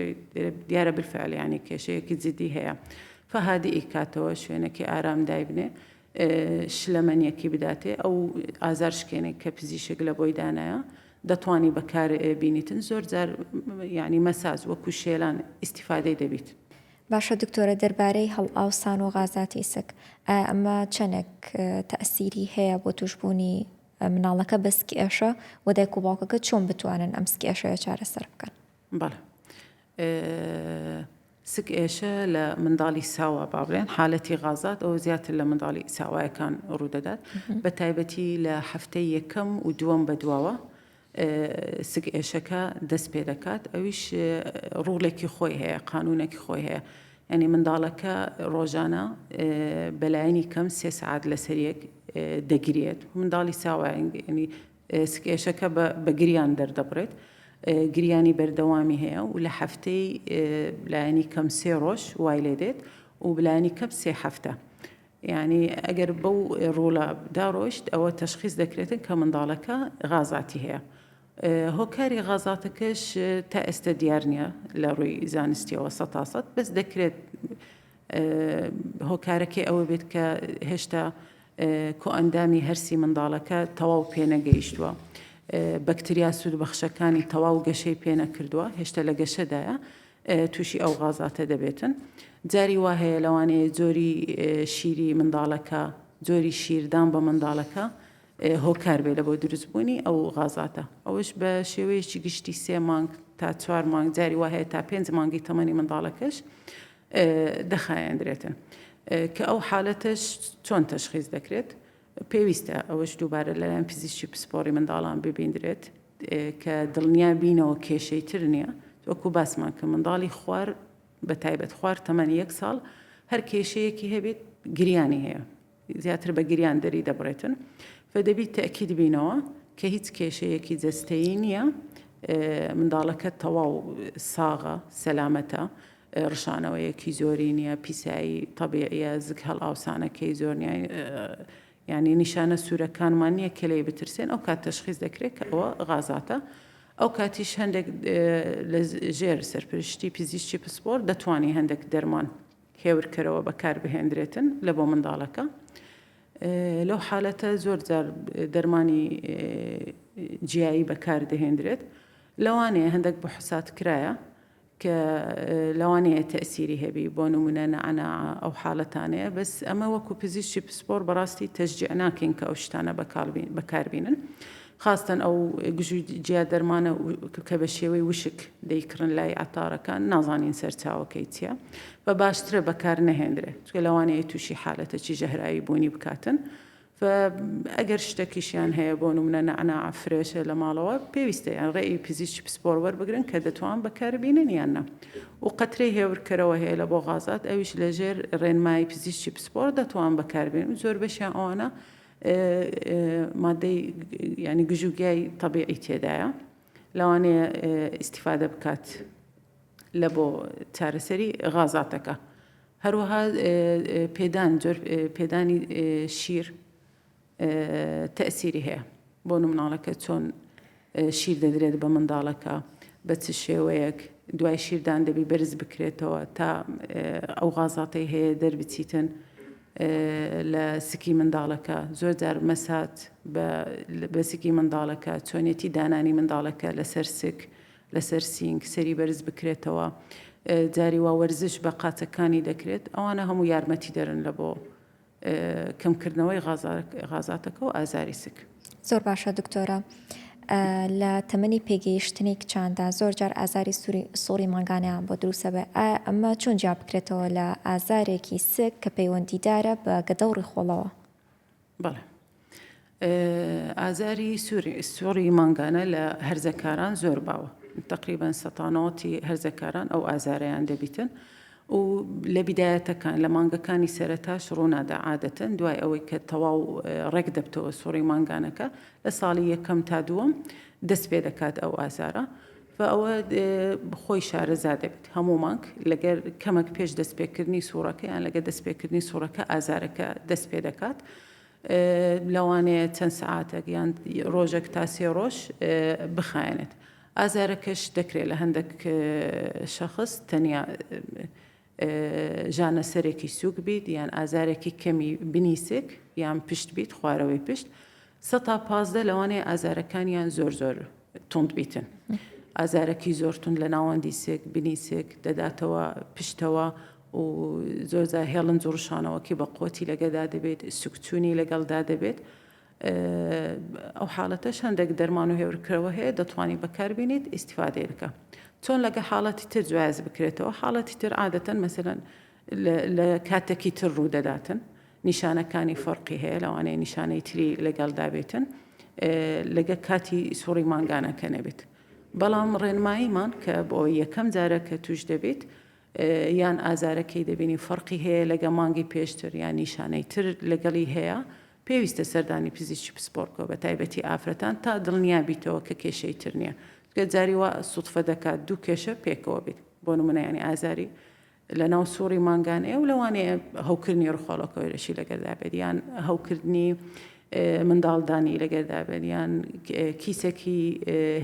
دیارە بالفعلیانی کێشەیەکی جدی هەیە فهادی ئیکاتەوە شوێنەکە ئارام دایبنێ شلەمەنیەکی بداتێ ئەو ئازار شکێنێک کە پزیشک لە بۆی دانایە دەتوانی بەکار بینیتن زۆر جار یعنی مەساز وەکو شێلان ئیسیفادەی دەبیت. باشە دکتۆرە دەربارەی هەڵئاوسان و غازاتی سک ئایا ئەمە چەنێک تەئسیری هەیە بۆ توشبوونی مناڵەکە بە سکئێشە وە دایک و باوکەکە چۆن بتوانن ئەم سکئێشەیە چارەسەر بکەن؟ بەڵێ سک ئێشە لە منداڵی ساوا با بڵێن حالەتی غازات ئەو زیاتر لە منداڵی ساوایەکان ڕوودەدات بە تایبەتی لە هەفتەی یەکەم و دووەم بە دواوە سک ئێشەکە دەست پێ دەکات ئەویش ڕوڵێکی خۆی هەیە قانونێکی خۆی هەیە ئەنی منداڵەکە ڕۆژانە بەلایەنی کەم سێ سعات لەسەریەک دەگرێت منداڵی ساوایگەنی سککێشەکە بە گریان دەردەبڕێت، گریانی بەردەوامی هەیە و لە هەفتەی لایەنی کەم سێ ڕۆژ وای لێ دێت و بلایەنی کەم سێ هەفتە. یانی ئەگەر بەو ڕۆڵە داڕۆشت ئەوە تەشخیز دەکرێتن کە منداڵەکە غازاتی هەیە. هۆکاری غازاتەکەش تا ئێستا دیار نییە لە ڕووی زانستیەوە سە تاسەد بەس دەکرێت هۆکارەکەی ئەوە بێت کە هێشتا کۆئەندامی هەرسی منداڵەکە تەواو پێنەگەیشتووە. بەکتریا سوودبەخشەکانی تەواو گەشەی پێنەکردووە هێشتا لە گەشەدایە تووشی ئەو غازاتە دەبێتن. جاری وا هەیە لەوانەیە جۆری شیری منداڵەکە جۆری شیردان بە منداڵەکە هۆکار بێ لە بۆ دروستبوونی ئەو غازاتە ئەوش بە شێوەیەکی گشتی سێ مانگ تا چوار مانگ جاری وا هەیە تا پێنج مانگی تەمەنی منداڵەکەش دەخایەندرێتن کە ئەو حالەتەش چۆن تەشخیز دەکرێت پێویستە ئەوەش دووبارە لەلایەن پزیشکی پسپۆری منداڵان ببیندرێت کە دڵنیا بینەوە کێشەی تر نییە وەکو باسمان کە منداڵی خوار بە تایبەت خوار تەمەنی یەک ساڵ هەر کێشەیەکی هەبێت گریانی هەیە زیاتر بە گریان دەریدەبڕێتن و دەبی تەئکید بینەوە کە هیچ کێشەیەکی جەستەیی نییە منداڵەکە تەواو ساغە سەلامەتە ڕشانەوەیەکی زۆری نییە پیسایی تەبیعە زگ هەڵ ئاوسانەکەی زۆر ینی نیشانە سوورەکانمان نییە کە لی بترسێن ئەو کات تەشخیز دەکرێت کە ئەوە غازاتە ئەو کاتیش هەندێک لە ژێر سەرپشتی پزیشتی پسپۆر دەتوانانی هەندێک دەرمان هێورکەرەوە بەکاربهێندرێتن لە بۆ منداڵەکە لەو حالەتە زۆر جار دەرمانی جیایی بەکاردەهێندرێت لەوانەیە هەندێک بە حسات کرایە کە لەوانەیە تەسیری هەبی بۆ نمونە نەعنا ئەو حالەتانەیە بەس ئەمە وەکو پزیشتی پسپۆر بەڕاستی تەجدیع ناکەین کە ئەو شتانە بەکاربینن خاستەن ئەو گژو جیا دەرمانە کە بە شێوەی وشک دەیکڕن لای عەتارەکان نازانین سەرچاوەکەی چیە و باشترە بەکار نەهێنرێ چکە لەوانەیە تووشی حالەتەکی ژەهراوی بوونی بکاتن و ئەگەر شتەکیشیان هەیە بۆ نمونە نەعناع فرێشە لە ماڵەوە پێویستە یان ڕێ ی پزیشکی پسپۆڕ وەربگرن کە دەتوان بەکاربینن یان نا و قەترەی هێورکەرەوە هەیە لە بۆ غازات ئەویش لەژێر ڕێنمایی پزیشکی پسپۆڕ دەتوان بەکاربێن و زۆربەشیان ئەوانە مادەی یانی گژ و گیای تەبیعی تێدایە لەوانەیە ئیسیفادە بکات لە بۆ چارەسەری غازاتەکە هەروەها پێدان جۆر پێدانی شیر تەسیری هەیە بۆ مناڵەکە چۆن شیر دەدرێت بە منداڵەکە بە چ شێوەیەک دوای شیردان دەبی بەرز بکرێتەوە تا ئەو غازاتەی هەیە دەربچیتن لە سکی منداڵەکە زۆر جار مەسات بە سکی منداڵەکە چۆنێتی دانانی منداڵەکە لەسەر سک لەسەر سینگ سەری بەرز بکرێتەوە جاری وا وەرزش بە قاچەکانی دەکرێت ئەوانە هەموو یارمەتی دەرن لە بۆ کەمکردنەوەی غازاتەکە و ئازاری سک. زۆر باشە دکتۆرە لە تەمەنی پێگەیشتنی کچاندا زۆر جار ئازاری سوری سوڕی مانگانەیان بۆ دروسە بێ ئایا ئەمە چۆن جیا بکرێتەوە لە ئازارێکی سک کە پەیوەندیدارە بە گەدە و ڕیخۆڵەوە بەڵێ ئازاری سوڕی مانگانە لە هەرزەکاران زۆر باوە تقریبان سەتانەوەتی هەرزەکاران ئەو ئازارەیان دەبیتن و لە بیدایەتەکان لە مانگەکانی سەرتاش ڕوونادا عادەتەن دوای ئەوەی کە تەواو ڕێک دەبتەوە سوڕی مانگانەکە لە ساڵی یەکەم تا دووەم دەست پێ دەکات ئەو ئازارە و ئەوە خۆی شارەزا دەبێت هەموو مانگ لەگەر کەمەک پێش دەستپێکردنی سوورەکەیان لەگە دەستپێکردنی سوورەکە ئازارەکە دەست پێ دەکات. لەوانەیە چەند سەعاتێک یان ڕۆژێک تا سێ ڕۆژ بخایەنێت. ئازارەکەش دەکرێت لە هەندێک شەخص تەنیا ژانەسەرێکی سووک بیت یان ئازارێکی کەمی بنی سک یان پشت بیت خوارەوەی پشت سە تا پازدە لەوانەیە ئازارەکانیان زۆر زۆر تند بیتن. ئازارەکی زۆرتون لە ناوەندی سێک بنی سێک دەداتەوە پشتەوە و زۆر جار هێڵنج و ڕشانەوەکەی بە قوتی لەگەدا دەبێت سکچونی لەگەڵدا دەبێت ئەو حاڵەتەش هەندێک دەرمان و هێورکرەوە هەیە دەتوانانی بەکاربیێنیت ئیسیفادەیە بکە چۆن لەگە حاڵەتی تر جواز بکرێتەوە حاڵەتی تر عادەتەن مەسەن لە کاتێکی تر ڕوودەداتن نیشانەکانی فەرقی هەیە لەوانەیە نیشانەی تری لەگەڵدا بێتن لەگە کاتی سوڕی مانگانەکە نەبێت بەڵام ڕێنماییمان کە بۆ یەکەم جارە کە توش دەبێت یان ئازارەکەی دەبینین فەرقی هەیە لەگە مانگی پێشتر یان نیشانەی تر لەگەڵی هەیە پێویستە سەردانی پزیشکی پسپۆڕ بکەوە بەتایبەتی ئافرەتان تا دڵنیا بیتەوە کە کێشەی تر نیە چونکە جاری وا سوتفە دەکات دوو کێشە پێکەوە بیت بۆ نمونە یانی ئازاری لەناو سوڕی مانگانەیە و لەوانەیە هەوکردنی ڕخۆڵەکەوەرەشی لەگەلدا بێت یان هەوکردنی منداڵدانی لەگەردا بێت یان کیسەکی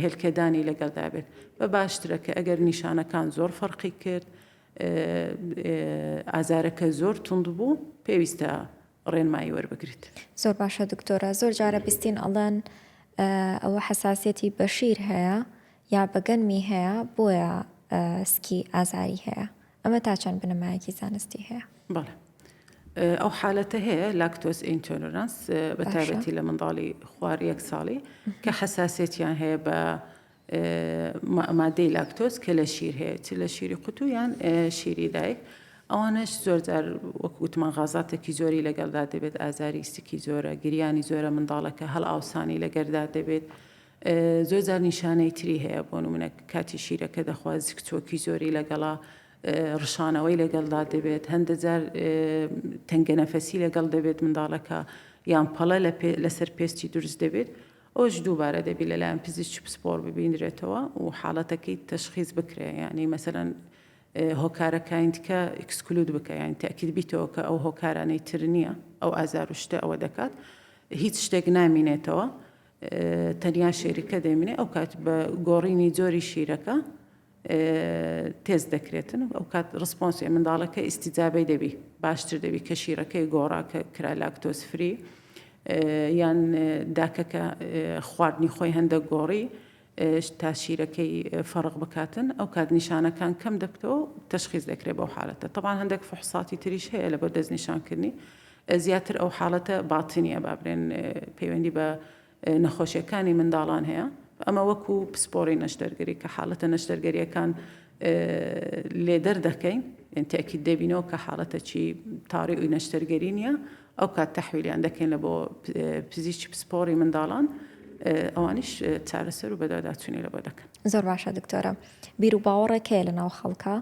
هێلکەدانی لەگەڵدا بێت بە باشترە کە ئەگەر نیشانەکان زۆر فەرقی کرد ئازارەکە زۆر تونند بوو پێویستە ڕێنمایی وەربگریت زۆر باشە دکتۆرە زۆر جارە بیستین ئەڵەن ئەوە حساسەتی بەشیر هەیە یا بەگەنمی هەیە بۆیە سکی ئازاری هەیە ئەمە تا چەند بنەمایەکی زانستی هەیە؟ بەڵێ. ئەو حالەتە هەیە لاکتۆز ئینتۆلۆرانس بە تایبەتی لە منداڵی خوار یەک ساڵی کە حساسێتیان هەیە بە مادەی لاکتۆز کە لە شیر هەیە چ لە شیری قوتو یان شیری دایک ئەوانش زۆرجار وەک وتمان غازاتێکی زۆری لەگەڵدا دەبێت ئازاری سکی زۆرە گریانی زۆرە منداڵەکە هەڵ ئاوسانی لەگەردا دەبێت زۆر جار نیشانەی تری هەیە بۆ نمونە کاتی شیرەکە دەخوات زکچۆکی زۆری لەگەڵا ڕشانەوەی لەگەڵدا دەبێت هەندە جار تەنگە نەفەسی لەگەڵ دەبێت منداڵەکە یان پەڵە لەسەر پێستی دروست دەبێت ئەوش دووبارە دەبی لەلایەن پزیشکی پسپۆر ببینرێتەوە و حاڵەتەکەی تەشخیز بکرێ ینی مەسەرەن هۆکارەکانتکە ئکسکلود بکە یان تاکیل بیتەوە کە ئەو هۆکارانەی تر نییە ئەو ئازار و شتە ئەوە دەکات هیچ شتێک نامینێتەوە تەنیا شیرکە دەیمنێ ئەوکات بە گۆڕینی جۆری شیرەکە تێز دەکرێتن ئەو کات ڕسپۆنسی منداڵەکە ئیسیجابەی دەبی باشتر دەبی کە شیرەکەی گۆڕاکە کرا لاکتۆسفری یان داکەکە خواردنی خۆی هەندە گۆڕی تا شیرەکەی فەرق بکاتن ئەو کات نیشانەکان کەم دەبتەوە و تەشخیز دەکرێت بەو حالەتە تەبان هەندێک فحساتی تریش هەیە لە بەر دەست نیشانکردنی زیاتر ئەو حالەتە باتنیە بابرێن پەیوەندی بە نەخۆشیەکانی منداڵان هەیە ئەمە وەکو پسپۆری نەشتەرگەری کە حالەتە نەشتەرگەریەکان لێدەر دەکەین تاکی دەبینەوە کە حاڵەتە چی تاڕی و نەشتەرگەری نیە ئەو کات تەحویلیان دەکەینە بۆ پزیشکی پسپۆڕی منداڵان ئەوانیش چارەسەر و بەداداچوونی لە بۆ دەکەن زۆر باشە دکتۆرە بیر و باوەڕێک هەیە لە ناو خەڵکە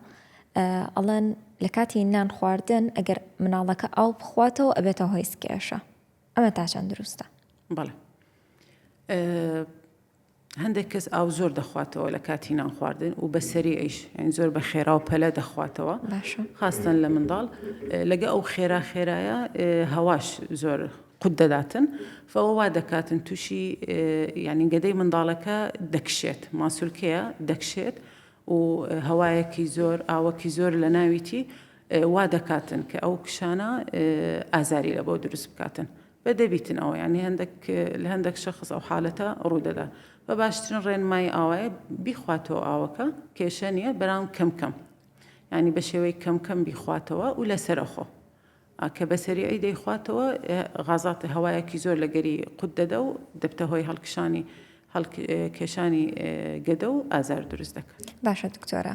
ئەڵەن لە کاتی نان خواردن ئەگەر مناڵەکە ئاو بخواتەوە ئەبێتەوە هۆی سکێشە ئەمە تا چەند دروستە بەڵێ هەندێک کەس ئاو زۆر دەخواتەوە لە کاتی نان خواردن و بە سەریعیش یعنی زۆر بە خێرا و پەلە دەخواتەوە باشە خاستن لە منداڵ اه، لەگە ئەو خێرا خێرایە اه، هەواش زۆر قوت دەداتن فەوە وا دەکاتن تووشی اه، یعنی گەدەی منداڵەکە دەکشێت ماسولکەیە دەکشێت و اه، هەوایەکی زۆر ئاوەکی زۆر لە ناویتی اه، وا دەکاتن کە ئەو کشانە اه، ئازاری لە بۆ دروست بکاتن بە دەبیتن ئەوە یانی هەندەک لە هەندەک شەخص ئەو حالەتە ڕوودەدا بە باشترین ڕێنمایی ئاوایە بیخواتەوە ئاوەکە کێشە نیە بەرام کەم کەم ینی بە شێوەی کەم کەم بیخواتەوە و لەسەرخۆ کە بەسەریعی دەیخواتەوە غازاتە هەوایەکی زۆر لەگەری قوت دەدە و دەبتە هۆی هەڵکشانی هەڵکێشانی گەدە و ئازار دروست دەکات باشە دکتۆرە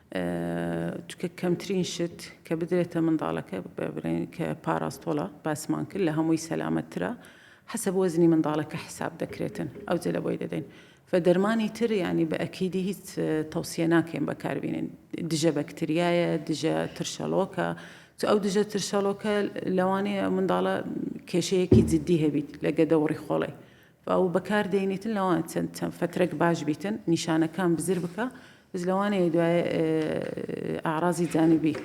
چونکە کەمترین شت کە بدرێتە منداڵەکە ببرێن کە پاراستۆڵە باسمان کرد لە هەمووی سەلامەتترە حەسەب وەزنی منداڵەکە حساب دەکرێتن ئەو جلە بۆی دەدەین فە دەرمانی تر ینی بە ئەکیدی هیچ تەوسیە ناکەین بەکاربیێن دژە بەکتریایە دژە ترشەڵۆکە ئەو دژە ترشەڵۆکە لەوانەیە منداڵە کێشەیەکی جددی هەبیت لە گەدە و ڕیخۆڵی و بەکار دەینیتن لەوان چەند چەند فترەک باش بیتن نیشانەکان بزر بکە بز لەوانەیە دوای ئاڕازی جانبی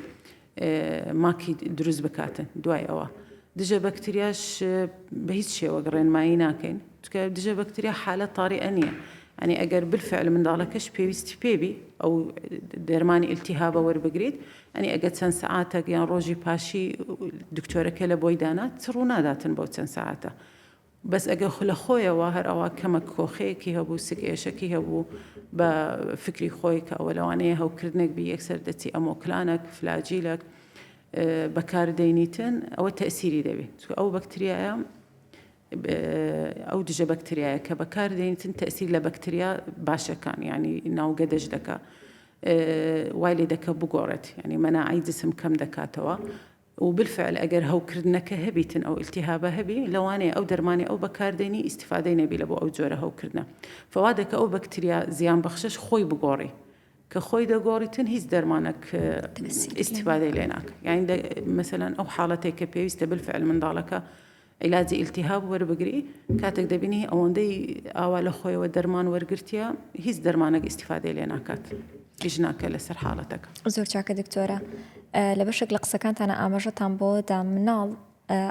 ماکی دروست بکاتن دوای ئەوە دژە بەکتریاش بە هیچ شێوەک ڕێنمایی ناکەین چکە دژە بەکتریا حالە تاڕی ئەنیە ئەنی ئەگەر بالفعل منداڵەکەش پێویستی پێبی ئەو دەرمانی ئلتیهابە وەربگریت ئەنی ئەگە چەند سعاتەک یان ڕۆژی پاشی دکتۆرەکە لە بۆی دانات ڕوو ناداتن بۆ چەند سعاتە بەس ئەگەر خو لەخۆیەوە هەر ئەوا کەمەک کۆخەیەکی هەبوو سک ئێشەکی هەبوو بە فکری خۆی کە ئەوە لەوانەیە هەوکردنەک بی یەکسەر دەچی ئەمۆکلانەک فلاجیلەک بەکار دەینیتن ئەوە تەسیری دەبێت چکە ئەو بەکتریایە ئەو دژە بەکتریایە کە بەکار دەینیتن تەسیر لە بەکتریا باشەکان ینی ناوگە دەش دەکە وای لێ دەکە بگۆڕێت ینی مەناعی جسم کەم دەکاتەوە و بالفعل ئەگەر هەوکردنەکە هەبیتن ئەو التهابە هەبی لەوانەیە ئەو دەرمانەی ئەو بەکاردێنی ئیستیفادەی نەبی لەبۆ ئەو جۆرە هەوکردنە فەوادە کە ئەو بەکتریا زیان بەخشەش خۆی بگۆڕی کە خۆی دەگۆڕیتن هیچ دەرمانەک ئیسیفادەی لێناکە یعنی مەسەلەن ئەو حاڵەتێک کە پێویستە بالفعل منداڵەکە عیلاجی ئیلتیهاب وەربگری کاتێک دەبینی ئەوەندەی ئاوا لە خۆیەوە دەرمان وەرگرتیە هیچ دەرمانەک ئیسیفادەی لێ ناکات هیچ ناکە لەسەر حاڵەتەکە زۆر چاکە دکتۆرە لە بەشێک لە قسەکانتانە ئاماژەتان بۆ دا مناڵ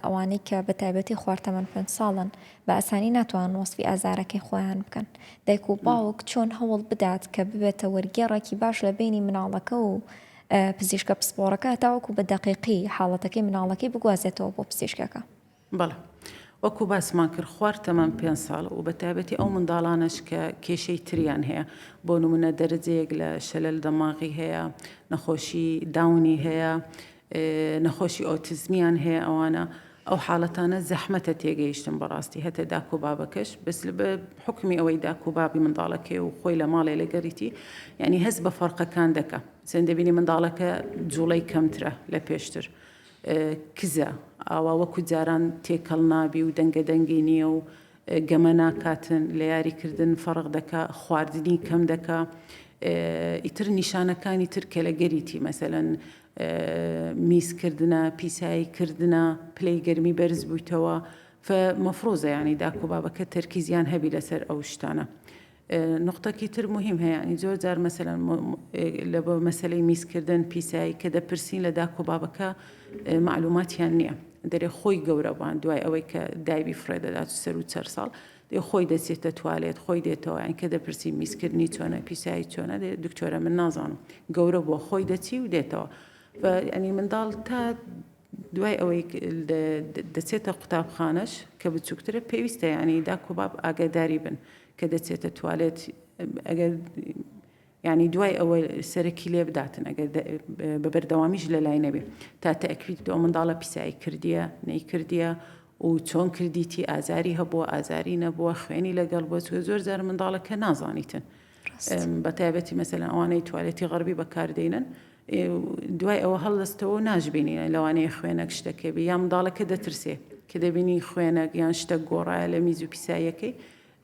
ئەوانەی کە بە تایبەتی خوارتەمەن پێ ساڵن بە ئاسانی ناتوان وەسفی ئازارەکەی خۆیان بکەن دایک و باوک چۆن هەوڵ بدات کە ببێتە وەرگێڕێکی باش لە بینی مناڵەکە و پزیشکە پسپۆڕەکە هەتاوەکو بە دەقیقی حاڵەتەکەی مناڵەکەی بگوازێتەوە بۆ پزیشکەکە. بەڵێ وەکو باسمان کرد خوار تەمەن پێنج ساڵ و بەتایبەتی ئەو منداڵانەش کە کێشەی تریان هەیە بۆ نمونە دەرەجەیەک لە شەلەل دەماغی هەیە نەخۆشی داونی هەیە نەخۆشی ئۆتیزمیان هەیە ئەوانە ئەو حاڵەتانە زەحمەتە تێگەیشتن بەڕاستی هەتە داک و بابەکەش بەس لەبە حوکمی ئەوەی داک و بابی منداڵەکەی و خۆی لە ماڵێ لەگەریتی یعنی هەست بە فەرقەکان دەکە سێن دەبینی منداڵەکە جوڵەی کەمترە لە پێشتر کزە ئاوا وەکو جاران تێکەڵ نابی و دەنگە دەنگی نییە و گەمە ناکاتن لە یاریکردن فەرق دەکا خواردنی کەم دەکا ئیتر نیشانەکانی تر کە لە گەریتی مەسەەن میزکردنە پیسایی کردنە پلەی گەرمی بەرز بویتەوە ف مەفڕوزە یانی داکو بابەکە تەرکیزیان هەبی لەسەر ئەو شتانە نقطەکی تر مهم هەیە ینی زۆر جار مەسەلەن لە بۆ مەسلەی میزکردن پیسایی کە دەپرسین لە داکۆ بابەکە معلوماتیان نییە دەرێ خۆی گەورەبان دوای ئەوەی کە دایبی فڕێ دەدات سەر و چەر ساڵ دەی خۆی دەچێتە توالێت خۆی دێتەوە یان کە دەپرسی میزکردنی چۆنە پیسایی چۆنە دەێت دکتۆرە من نازانم گەورە بۆ خۆی دەچی و دێتەوە ئەنی منداڵ تا دوای ئەوەی دەچێتە قوتابخانەش کە بچووکترە پێویستە ینی داکۆباب ئاگاداری بن کە دەچێتە توالێت ئەگەر یانی دوای ئەوە سەرەکی لێ بداتن ئەگەر بە بەردەوامیش لە لای نەبێ تا تەکویت ئەو منداڵە پیسایی کردیە نەیکردیە و چۆن کردیتی ئازاری هەبووە ئازاری نەبووە خوێنی لەگەڵ بۆ چوە زۆر زار منداڵەکە نازانیتن بە تایبەتی مەسەلەن ئەوانەی توالێتی غەربی بەکاردێنن دوای ئەوە هەڵدەستەوە ناشبینینە لەوانەیە خوێنەک شتەکە بێ یا منداڵەکە دەترسێ کە دەبینی خوێنەک یان شتە گۆڕایە لە میز و پیساییەکەی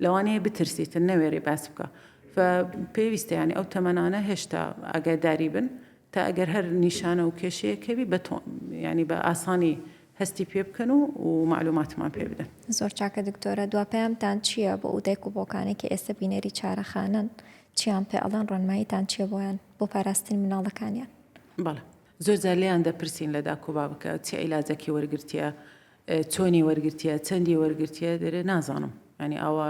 لەوانەیە بترسیتن نەوێری باس بکا فە پێویستە یانی ئەو تەمەنانە هێشتا ئاگاداری بن تا ئەگەر هەر نیشانە و کێشەیە کەوی بە تۆ ینی بە ئاسانی هەستی پێ بکەن و و معلوماتمان پێ بدەن زۆر چاکە دکتۆرە دوا پەیامتان چییە بۆ ئودایک و بۆکانێک کە ئێستا بینەری چارەخانەن چیان پێ ئەڵەن ڕۆنماییتان چیە بۆیان بۆ پاراستنی مناڵەکانیان بەڵێ زۆر زار لێیان دەپرسین لە داکۆبا بکە چی عیلاجەکی وەرگرتیە چۆنی وەرگرتیە چەندی وەرگرتیە دەرێ نازانم ینی ئاوا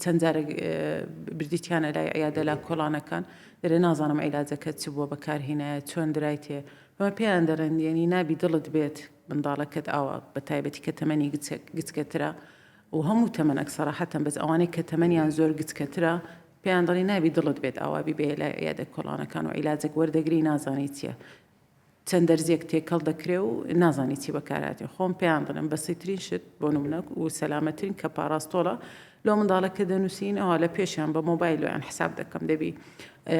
چەند جارە بردیتیانە لای عیادە لا کۆڵانەکان دەرێ نازانم عیلاجەکە چ بووە بەکارهینایە چۆن درایتێ بە پێیان دەڵێن یعنی نابی دڵت بێت منداڵەکەت ئاوا بە تایبەتی کە تەمەنی گچکەترا و هەموو تەمەنەک سەراحەتەن بەس ئەوانەی کە تەمەنیان زۆر گچکەترا پێیان دڵی نابی دڵت بێت ئاوابی بێ لای عیادە کۆڵانەکان و عیلاجێک وەردەگری نازانیت چیە چەند دەرزیەک تێکەڵ دەکرێ و نازانی چی بەکارهاتێ خۆم پێیان دەڵێم بەسیترین شت بۆ نمونە و سەلامەترین کە پاراستۆڵە لۆ منداڵە کە دەنووسین ئەوە لە پێشیان بە مۆبایل لۆیان حساب دەکەم دەبی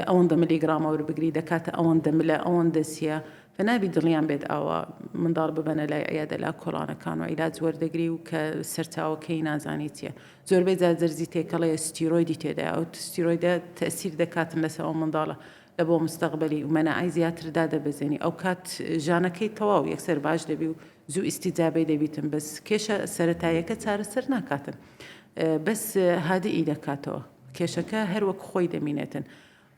ئەوەندە ملی گرامە وەربگری دەکاتە ئەوەندە ملە ئەوەندە سیە فنابی دڵیان بێت ئاوا منداڵ ببەنە لای عیادە لا کۆڵانەکان و عیلاج وەردەگری و کە سەرچاوەکەی نازانی چیە زۆربەی جاجەرزی تێکەڵەیە ستیرۆیدی تێدا ئەو ستیرۆیدە تەسیر دەکاتن لەسەوە منداڵە لە بۆ مستەقبەلی ئومەنائای زیاتر دادەبەزێنی ئەوکات ژانەکەی تەواو یەکسەر باش دەبی و زوو ئیستیجابەی دەبیتن بەس کێشە سەرەتاییەکە چارەسەر ناکاتن بەس هادئی دەکاتەوە کێشەکە هەروەک خۆی دەمینێتن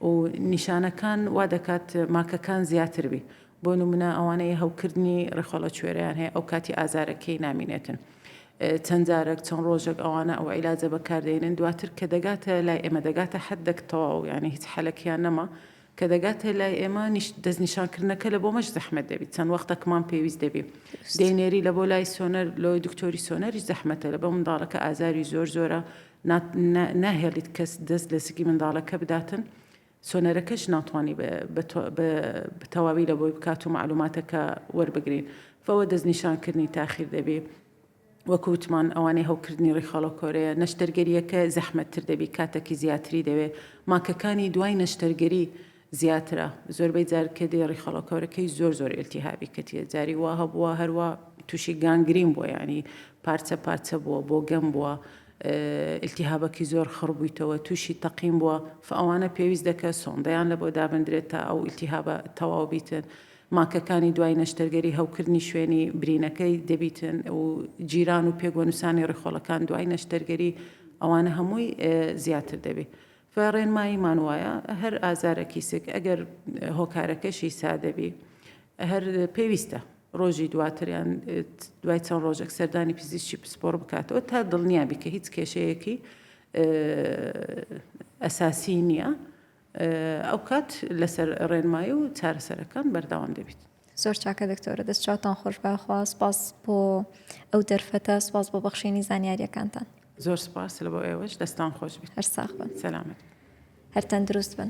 و نیشانەکان وا دەکات ماکەکان زیاتر بی بۆ نمونە ئەوانەی هەوکردنی ڕیخۆڵەکوێرەیان هەیە ئەو کاتی ئازارەکەی نامینێتن چەند جارەک چەند ڕۆژێک ئەوانە ئەو عیلاجە بەکاردێنن دواتر کە دەگاتە لای ئێمە دەگاتە حد دەکتەواو یانی هیچ حەلەکیان نەما کە دەگاتە لای ئێمە دەستنیشانکردنەکە لە بۆ مەش زەحمەت دەبیت چەند وەختەکمان پێویست دەبی دەینێری لە بۆ لای سۆنەر لۆی دکتۆری سۆنەری زەحمەتە لە بە منداڵەکە ئازاری زۆر زۆرە ناهێڵیت کەس دەست لە سکی منداڵەکە بداتن سۆنەرەکەش ناتوانی بە تەواوی لە بۆی بکات و مەعلوماتەکە وەربگرین فەوە دەستنیشانکردنی تاخیر دەبی وەکو وتمان ئەوانەی هەوکردنی ڕیخاڵۆ کۆرەیە نەشتەرگەریەکە زەحمەتتر دەبی کاتەکی زیاتری دەوێ ماکەکانی دوای نەشتەرگەری زیاترە زۆربەی جار کە دێ ڕیخاڵۆ کۆرەکەی زۆر زۆر ئێلتیهابی کەتیە جاری وا هەبووە هەروە تووشی گانگرین بووە یانی پارچە پارچە بووە بۆ گەم بووە ئیلتیهابەکی زۆر خڕ بویتەوە توشی تەقین بوە فئەوانە پێویست دەکە سۆندەیان لەبۆ دابندرێت تا ئەو ئیلتیهابە تەواو بیتن ماکەکانی دوای نەشتەرگەری هەوکردنی شوێنی برینەکەی دەبیتن و جیران و پێگوەنوسانی ڕیخۆڵەکان دوای نەشتەرگەری ئەوانە هەمووی زیاتر دەبی ڕێنماییمان وایە هەر ئازارەکی سک ئەگەر هۆکارەکەشی سادەبی هەر پێویستە ڕۆژی دواتریان دوای چەند ڕۆژێک سەردانی پزیشکی پسپۆڕ بکاتەوە تا دڵنیابی کە هیچ کێشەیەکی ئەساسی نییە ئەو کات لەسەر ڕێنمایی و چارەسەرەکان بەرداوام دەبیت. زۆر چاکە دکتۆرە دەست چاوتان خۆش باخوا سپاس بۆ ئەو دەرفەتە سپاس بۆ بەخشینی زانیاریەکانتان زۆر سپاس لە بۆ ئێوەش دەستان خۆش بێت هەر ساخ بن سەلامت هەر تەندروست بن.